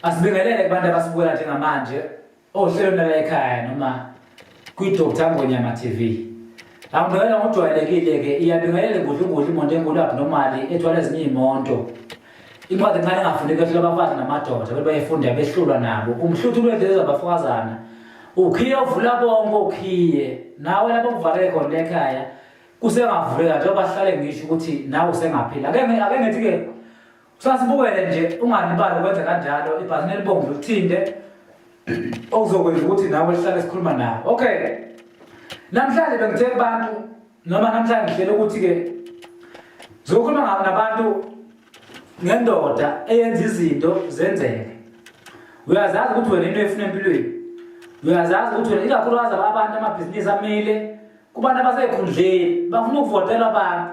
Asibingelele kubantu abasibukela njengamanje ohlelweni lala ekhaya noma kwi-Dr Ngonyama TV. Angibingelela ngokujwayelekile-ke iyabingelele ngudlungudlu imonto enkulu abnormali ethwala ezinye iy'monto. Incwadi encane engafuni kwehlula abafazi namadoda abantu bayefunda behlulwa nabo. Umhluthu lwendlela zabafokazana. Ukhiye uvula bonke okhiye. Nawe lapho kuvaleke khona ekhaya kusengavuleka njengoba sihlale ngisho ukuthi nawe usengaphila. Ake ake ngithi-ke Sasibukele nje ungalibali ukwenza kanjalo ibhazini elibomvu lithinte okuzokwenza ukuthi nawe sihlale sikhuluma nawe. Okay. Namhlanje bengithe kubantu noma namhlanje ngihlela ukuthi-ke zokhuluma ngabo nabantu ngendoda eyenza izinto zenzeke. Uyazazi ukuthi wena into efuna empilweni. Uyazazi ukuthi wena ikakhulukazi abantu amabhizinisi amile kubantu abasekhundleni bafuna ukuvotela abantu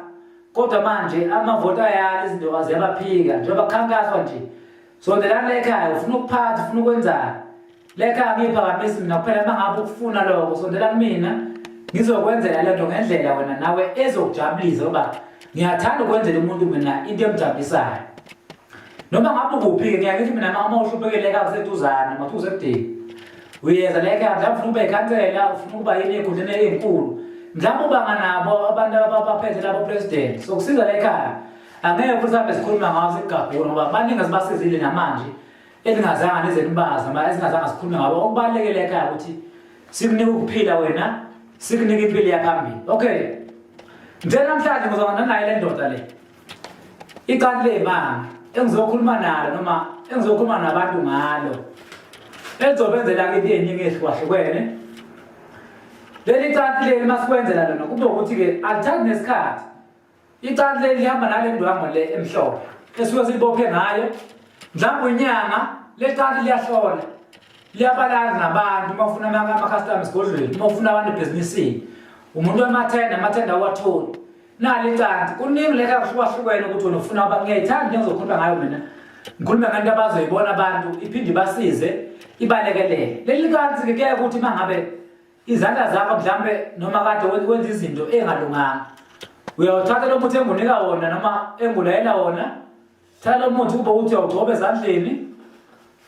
kodwa manje amavoti ayala izinto aziyabaphika njengoba kukhankaswa nje sondelani lekhaya ufuna ukuphatha ufuna ukwenzani lekhaya ngiyiphakamisi mina kuphela uma ngabe ukufuna lokho sondelani mina ngizokwenzela le nto ngendlela wena nawe ezokujabulisa uba ngiyathanda ukwenzela umuntu mina into emjabulisayo noma ngabe ukuphi-ke ngiyakithi mina uma uhluphekele-ke akuseduzane mathi usekudingi uyeza leke mhlawumbe ufuna ukuba ikhansela ufuna ukuba yini ekhundleni eyinkulu mhlawumbe ubanga nabo abantu abaphethe labo president sokusiza le khaya angeke futhi sihambe sikhuluma ngawo sikugabhula ngoba baningi asibasizile namanje elingazanga nezenibazi noma esingazanga sikhulume ngabo okubalulekile ekhaya ukuthi sikunike ukuphila wena sikunike impilo yaphambili okay njenamhlanje ngizokwenza naye le ndoda le Icala lemanga engizokhuluma nalo noma engizokhuluma nabantu ngalo elizobenzela kithi eningi ehlukahlukene leli cati leli masikwenzela lona kube ukuthi-ke alithathi nesikhathi icati leli lihamba nale ndwango le emhlophe esuke silibophe ngayo mhlawumbe unyanga le cati liyahlola liyabalala nabantu uma ufuna ama-custom esigodlweni uma ufuna abantu ebhizinisini umuntu wemathenda amathenda awatholi nali canti kuningi leka kuhlukahlukene ukuthi wena ufuna uba ngiyayithanda into engizokhuluma ngayo mina ngikhulume ngento abazoyibona abantu iphinde ibasize ibalekelele leli kanti-ke kuyaye ukuthi uma ngabe izandla zakho mhlawumbe noma kade wenza izinto engalunganga uyawuthatha lo muthi engunika wona noma engulayela wona thatha umuthi kube ukuthi awugcobe ezandleni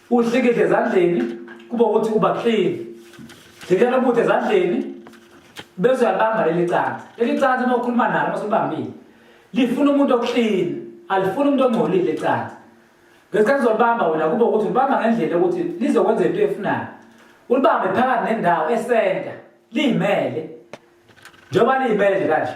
uhlikihle ezandleni kube ukuthi uba clean hlikihla umuthi ezandleni bese uyalibamba leli cansi leli cansi uma ukhuluma nalo uma sulibambile lifuna umuntu oclean alifuni umuntu ongcolile cansi ngesikhathi uzolibamba wena kube ukuthi ulibamba ngendlela yokuthi lizokwenza into efunayo ulibambe phakathi nendawo esenta liyimele njengoba liyimele nje kanje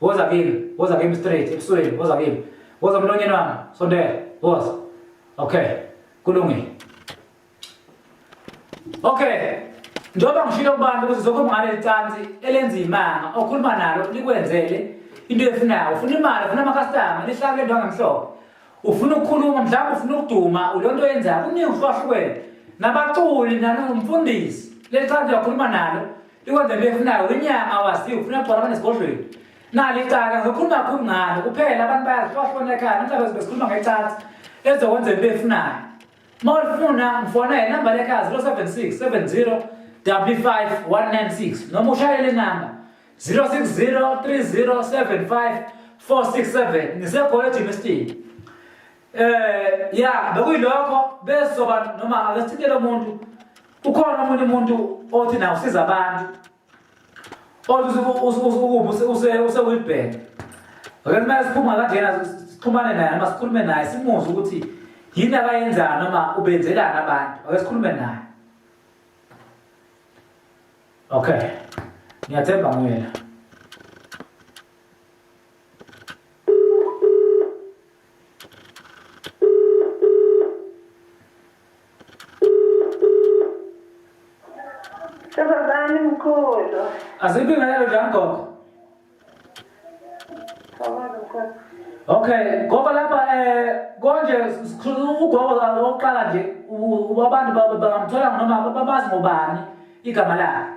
Woza kimi, woza kimi straight ebusweni, woza kimi. Woza mlonyeni wami, sondela, woza. Okay. Kulungile. Okay. Njengoba ngishilo kubantu ukuthi zokhuluma ngale licansi elenza imanga, okhuluma nalo likwenzele into efunayo. Ufuna imali, ufuna ama-customer, lihlala le nto angemhlophe. Ufuna ukukhuluma, mhlawumbe ufuna ukuduma, ulonto yenzayo, kuningi uhlukahlukene. Nabaculi nani ngumfundisi, leli cansi uyakhuluma nalo Ikwanda befuna unyama wazi ufuna khona abanesigodlweni. Nali icaka ngikhuluma kakhulu ngalo kuphela abantu bayazihlwahlona ekhaya mhlawumbe sibekhuluma ngecathi ezokwenza into efunayo. Uma ulifuna ngifona inamba lekhaya 076 70 55196 noma ushayele inamba 060 3075 467 ngisekhona eGymnastic. Eh ya bekuyilokho besoba noma akasithintele umuntu ukhona omunye umuntu othi nawo usiza abantu othi usewilbhek ake kumele siphuma kangena sixhumane naye noma sikhulume naye simuzwe ukuthi yini abayenzana noma ubenzelani abantu ake sikhulume naye okay ngiyathemba nguyena Sabazani mkhulu. Aziphi ngalelo njani gogo? Sabazani mkhulu. Okay, gogo lapha eh konje ugogo la oqala nje abantu bangamthola noma babazi ngobani igama lakhe.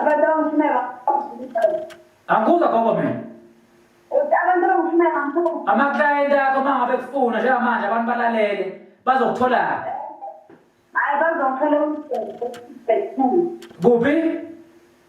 Abantu abamfuneka angikuzwa gogo mina abantu abamfuneka amaklayenti akho uma ngabe kufuna njengamanje abantu balalele bazokuthola hayi bazokuthola kuphi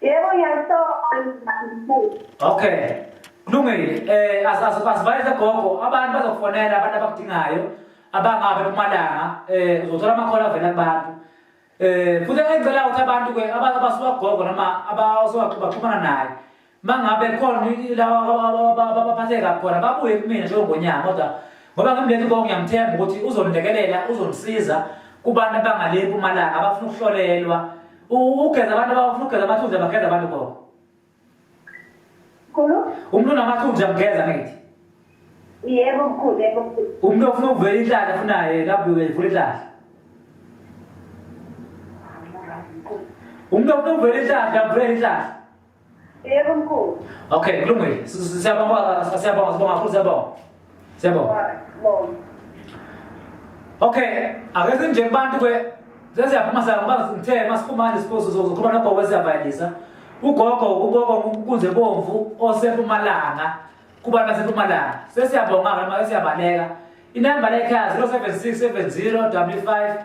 Yebo ngiyakusola. Okay. Kulungile. Eh asibayise gogo abantu bazokufonela abantu abakudingayo abangabe kumalanga eh uzothola amakhola avela kubantu. Eh futhi engicela ukuthi abantu ke abasuka gogo noma abasuka baxhumana naye mangabe khona laba abaphatheka khona babuye kumina njengongonyama kodwa ngoba ngimleli konke ngiyamthemba ukuthi uzonilekelela uzongisiza kubantu abangale eMpumalanga abafuna ukuhlolelwa ugeza abantu abafuna ukugeza amathunzi abageza abantu koko khona umuntu unamathunzi amgeza ngithi yebo mkhulu yebo umuntu ofuna ukuvela inhlahla afunayo lapho uvula inhlahla umuntu ofuna ukuvela inhlahla avula inhlahla Yebo mkhulu. Okay, kulungile. Siyabonga, siyabonga, sibonga futhi siyabonga. Siyabonga. Okay, akeze nje abantu ke seziyaphuma sangibanga ngithe masiphuma nje siposo zokhuluma nogogo esiyabayisa. Ugogo uboko kunze bomvu osepumalanga kubantu basepumalanga. Sesiyabonga ngama siyabaleka. Inamba lekhaya 0767 055